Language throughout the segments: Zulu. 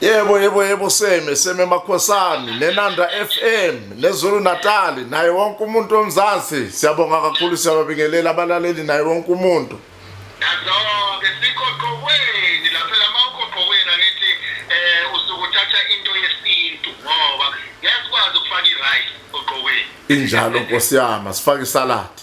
Yebo yebo yebo seme seme makhosani nenanda FM nezulu Natali naye wonke umuntu omzansi siyabonga kakhulu siyababingelela abalaleli naye wonke umuntu Nazoke sikho qokweni lapha lama ukho qokweni angithi eh usukuthatha into yesintu ngoba ngiyakwazi ukufaka i-rice oqokweni injalo nkosi yami sifake isaladi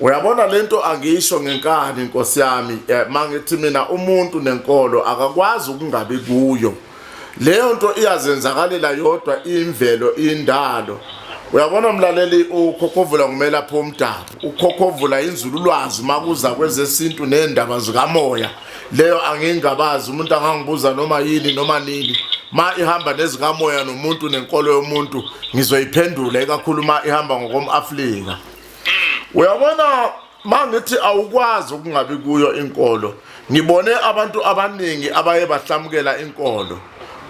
Uyabona lento angisho ngenkani Nkosi yami eh, mangithi mina umuntu nenkolo akakwazi ukungabi kuyo leyo nto iyazenzakalela yodwa imvelo indalo uyabona mlaleli ukhokhovula kumele apho umdabu ukhokhovula inzululwazi makuza kwezesintu nendaba zikamoya leyo angingabazi umuntu angangibuza noma yini noma nini ma ihamba nezikamoya nomuntu nenkolo yomuntu ngizoyiphendula ikakhulu ma ihamba ngokom-afrika uyabona ma ngithi awukwazi ukungabi kuyo inkolo ngibone abantu abaningi abaye bahlamukela inkolo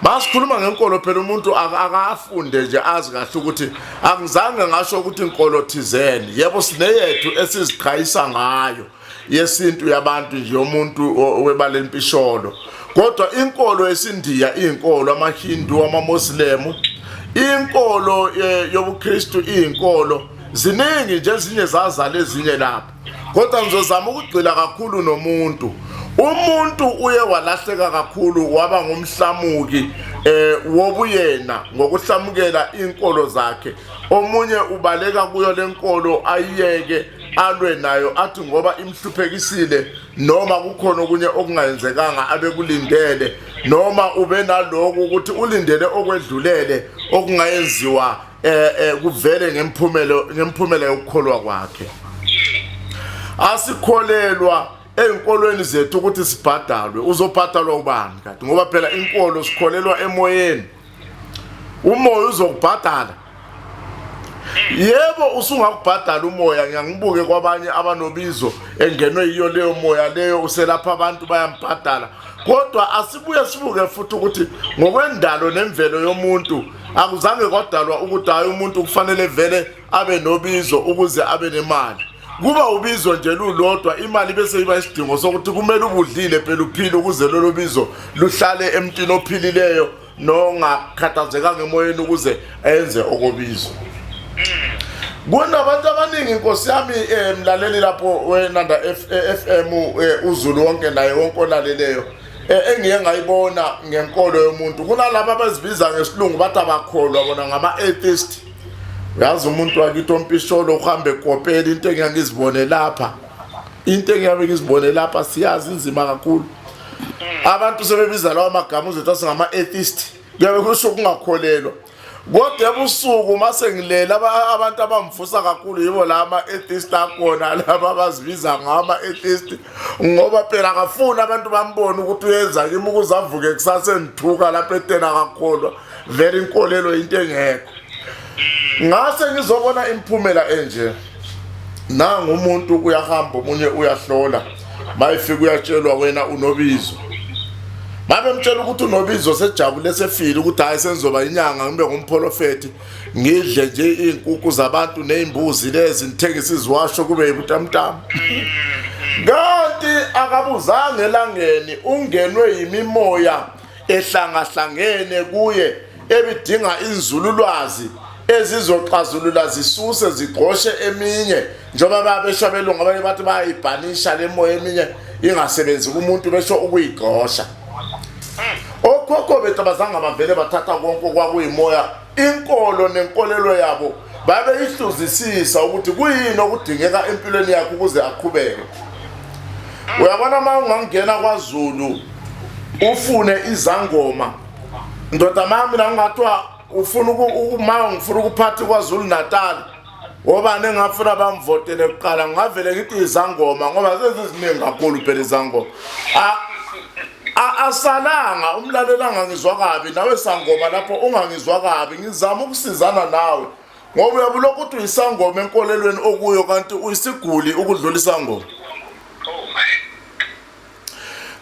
basikhuluma ngenkolo phela umuntu akafunde nje azi kahle ukuthi angizange ngasho ukuthi inkolo thizeni yebo sineyethu esiziqhayisa ngayo yesintu yabantu nje yomuntu webala lempisholo kodwa inkolo yesindiya iyinkolo amahindu amamoslemu inkolo eh, yobuKristu iyinkolo ziningi nje ezinye zazala ezinye lapha kodwa ngizozama ukugxila kakhulu nomuntu umuntu uye walahleka kakhulu waba ngumhlamuki eh wobuyena ngokuhlamukela inkolo zakhe omunye ubaleka kuyo lenkolo ayiyeke alwe nayo athi ngoba imhluphekisile noma kukhona okunye okungayenzekanga abekulindele noma ube naloku ukuthi ulindele okwedlulele okungayenziwa eh, eh kuvele ngemphumela ngemphumela yokukholwa kwakhe asikholelwa ezinkolweni zethu ukuthi sibhadalwe uzobhadalwa ubani kanti ngoba phela inkolo sikholelwa emoyeni umoya uzokubhadala yebo usungakubhadala umoya ngiyangibuke kwabanye abanobizo engenwe yiyo leyo moya leyo uselapha abantu bayambhadala kodwa asibuye sibuke futhi ukuthi ngokwendalo nemvelo yomuntu akuzange kwadalwa ukuthi hayi umuntu kufanele vele abe nobizo ukuze abe nemali kuba ubizo nje lulodwa imali bese iba isidingo sokuthi kumele ubudlile phela uphile ukuze lolo bizo luhlale emntwini ophilileyo nongakhathazekanga emoyeni ukuze enze okobizo kunabantu abaningi inkosi yami um mlaleli lapho wenanda f m eh, uzulu wonke naye wonke olaleleyo eh, engiye ngayibona ngenkolo yomuntu kunalaba abazibiza ngesilungu bathi abakholwa bona ngama-atheist uyazi umuntu wakithi ompisholo uhambe kopela into engiyangizibone lapha into engiyabe ngizibone lapha siyazi inzima kakhulu abantu sebebiza lawo magama uzothi asingama-atheist kuyabe kusho ukungakholelwa kodwa ebusuku uma sengilele abantu abamvusa kakhulu yibo la ama-atheist akhona laba abazibiza ngama-atheist ngoba phela akafuni abantu bambone ukuthi uyenza kimi ukuze avuke kusase ndithuka lapho etena kakholwa vele inkolelo into engekho ngase ngizobona imphumela enje nanga umuntu uyahamba omunye uyahlola mayefika uyatshelwa wena unobizo babemtshela ukuthi unobizo sejabule sefile ukuthi hhayi sengizoba inyanga ngibe ngumprofethi ngidle nje iy'nkukhu zabantu ney'mbuzi lezi ngithengise iziwasho kube yibutamtama kanti akabuzanga elangeni ungenwe yimimoya ehlangahlangene kuye ebidinga inzululwazi ezizoxazulula zisuse zigqoshe eminye njengoba babesho belungu abanye bathi bayayibhanisha le moya eminye ingasebenzi kumuntu besho ukuyigqosha okhokho bethu abazange bavele bathatha konke okwakuyimoya inkolo nenkolelo yabo babeyihluzisisa ukuthi kuyini okudingeka empilweni yakhe ukuze aqhubeke uyabona uma ungangena kwazulu ufune izangoma ndoda mami la ungathiwa ufuna uma ngifuna ukuphatha kwazulu natali obani engafuna bamvotele kuqala ngingavele ngithi izangoma ngoba seziziningi kakhulu phela izangoma asalanga umlaleli angangizwa kabi nawe sangoma lapho ungangizwa kabi ngizama ukusizana nawe ngoba uyabe ulokhu uthi uyisangoma enkolelweni okuyo kanti uyisiguli ukudlula isangoma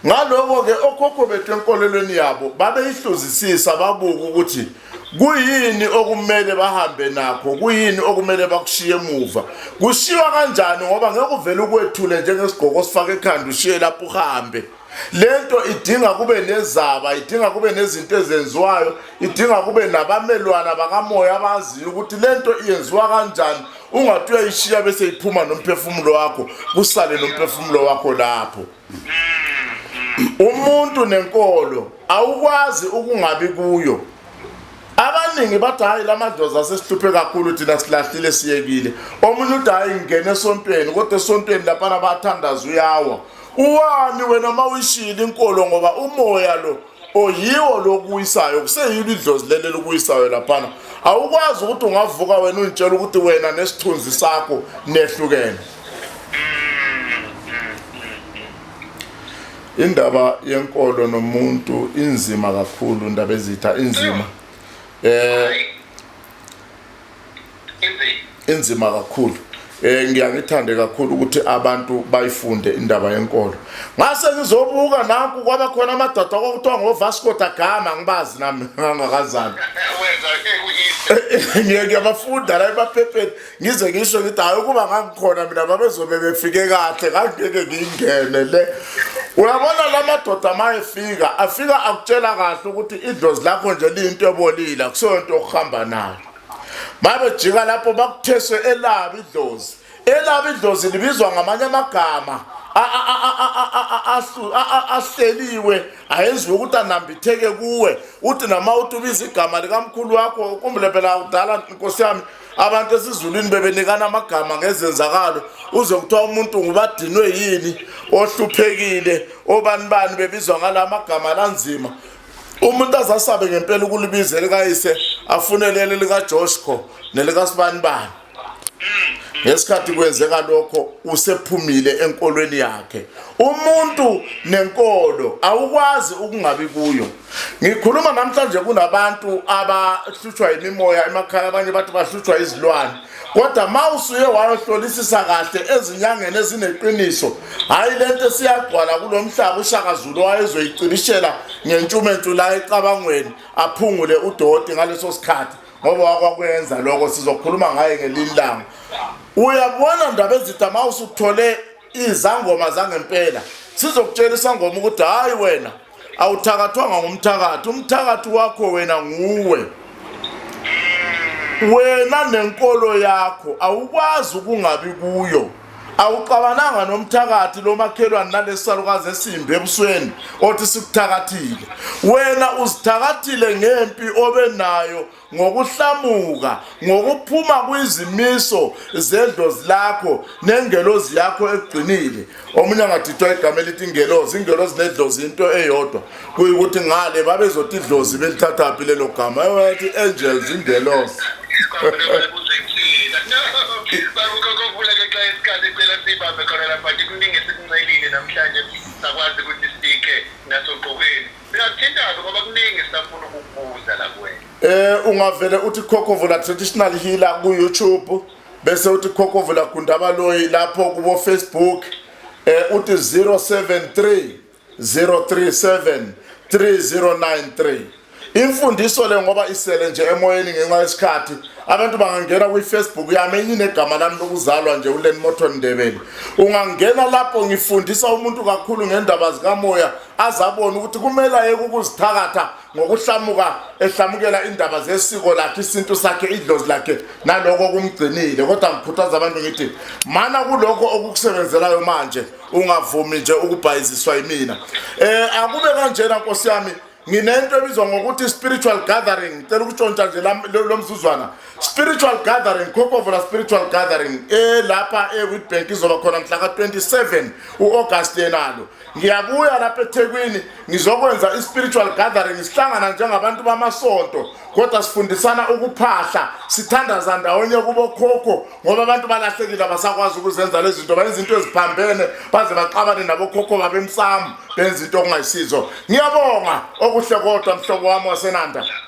Ngaloko-ke okhokho bethu enkolelweni yabo babeyihluzisisa babuka ukuthi kuyini okumele bahambe nakho kuyini okumele bakushiye emuva kushiywa kanjani ngoba ngeke uvele ukwethule njengesigqoko osifaka ekhanda ushiye lapho uhambe lento idinga kube nezaba idinga kube nezinto ezenziwayo idinga kube nabamelwana bakamoya abaziyo ukuthi lento iyenziwa kanjani ungathi uyayishiya bese iphuma nomphefumulo wakho kusale nomphefumulo wakho lapho umuntu nenkolo awukwazi ukungabi kuyo abaningi bathi hhayi la madlozi asesihluphe kakhulu thina silahlile siyekile omunye uthi hhayi ngingene esontweni kodwa esontweni laphana bathandaza uyawa uwani wena uma uyishile inkolo ngoba umoya lo oyiwo lokuwisayo kuseyilo idlozi leli lokuwisayo laphana awukwazi ukuthi ungavuka wena ungitshela ukuthi wena nesithunzi sakho nehlukene indaba yenkolo nomuntu inzima kakhulu indaba ezitha inzima eh inzima kakhulu eh ngiyangithande kakhulu ukuthi abantu bayifunde indaba yenkolo ngase ngizobuka naku kwaba khona amadoda kwakuthiwa ngoVasco da Gama ngibazi nami ngangakazani ngeke ngiyabafunda la emaphepheni ngize ngisho ngithi hayi ukuba ngangikhona mina babezobe befike kahle ngangeke ngingene le uyabona la madoda ma efika afika akutshela kahle ukuthi idlozi lakho nje liyinto ebolile akuseyo nto okuhamba nayo babejika lapho bakutheswe elabi idlozi elabi idlozi libizwa ngamanye amagama ahleliwe ayenziwe ukuthi anambitheke kuwe uthi nama uthi ubiza igama likamkhulu wakho kumbe phela kudala nkosi yami abantu esizulwini bebenikana amagama ngezenzakalo uze kuthiwa umuntu ngubadinwe yini ohluphekile obani bani bebizwa ngala magama lanzima umuntu azasabe ngempela ukulibiza elikayise afunelele likajoshko nelikasibani bani ngesikhathi kwenzeka lokho usephumile enkolweni yakhe umuntu nenkolo awukwazi ukungabi kuyo Ngikhuluma namhlanje kunabantu abahlutshwa yimimoya emakhaya abanye bathi bahlutshwa izilwane kodwa ma usuye wayohlolisisa kahle ezinyangeni ezineqiniso hhayi le nto esiyagcwala kulo mhlaba ushakazulu wayezoyicibishela ngentshumentshu la ecabangweni aphungule udoti ngaleso sikhathi ngoba wakwakwenza lokho sizokhuluma ngaye ngelinye ilanga uyabona ndaba ezitha ma usuthole izangoma zangempela sizokutshela isangoma ukuthi hayi wena awuthakathwanga ngumthakathi umthakathi wakho wena nguwe wena nenkolo yakho awukwazi ukungabi kuyo awuxabananga nomthakathi lo makhelwane nalesalukazi esimbi ebusweni othi sikuthakathile wena uzithakathile ngempi obenayo ngokuhlamuka ngokuphuma kwizimiso zedlozi lakho nengelozi yakho ekugcinile omunye angathithwa igama elithi ingelozi ingelozi nedlozi into eyodwa kuyikuthi ngale babezothi idlozi belithathaphi lelo gama ewathi angels ingelozi namhlanje sakwazi ukuthi sibike nasogqokweni Singathintana ngoba kuningi esafuna ukukubuza la kuwena. Eh ungavele uthi Khokovula Traditional Healer ku YouTube bese uthi Khokovula Gundabaloyi lapho kubo Facebook eh uthi 073 037 3093 imfundiso le ngoba isele nje emoyeni ngenxa yesikhathi abantu bangangena kwi-facebook yami enye inegama lami lokuzalwa nje ulen moton ndebele ungangena lapho ngifundisa umuntu kakhulu ngendaba zikamoya azabona ukuthi kumele ayeke ukuzithakatha ngokuhlamuka ehlamukela indaba zesiko lakhe isintu sakhe idlozi lakhe naloko okumgcinile kodwa ngikhuthaza abantu ngithi mana kulokho okukusebenzelayo manje ungavumi nje ukubhayiziswa yimina um akube kanjena nkosi yami nginento ebizwa ngokuthi spiritual gathering cela ukutshontsha nje lo mzuzwana spiritual gathering khokovola spiritual gathering elapha ewitbank izoba khona mhla ka-27 u-agasti yenalo ngiyabuya lapha ethekwini ngizokwenza i-spiritual gathering sihlangana njengabantu bamasonto kodwa sifundisana ukuphahla sithandaza ndawonye kubokhokho ngoba abantu balahlekile abasakwazi ukuzenza lezi zinto bayenza into eziphambene baze baxabane nabokhokho babemsamu benza into okungayisizo ngiyabonga okuhle kodwa mhlobo wami wasenanda